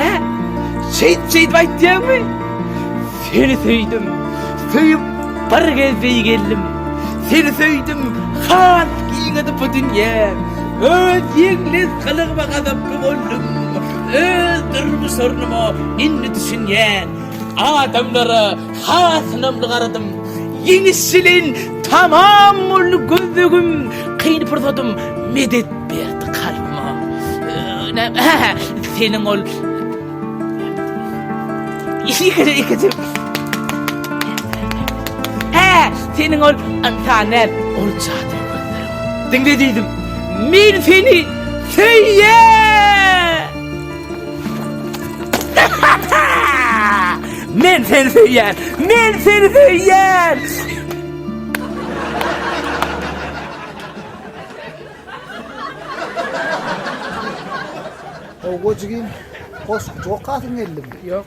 Hä? Şeýt şeýdip aýtýaňmy? Seni söýdüm. Söýüp bir gez beý geldim. Seni söýdüm. Has giňedi bu dünýä. Öz ýeňles gylygyma gazaply boldum. Öz durmuş ornuma indi düşünýän. Adamlara Has ynamly garadym. Ýeňişçiligiň tamam boldy gözlegim, kyn pursatym medet berdi kalbyma. Seniň ol Ikide ikide. He, seniň ol antane ol çadyr gözlerim. Diňle diýdim. Men seni söýýän. Men seni söýýän! Men seni söýýän! Howwa jigim, goşgyjy okasyň geldimi? Ýok.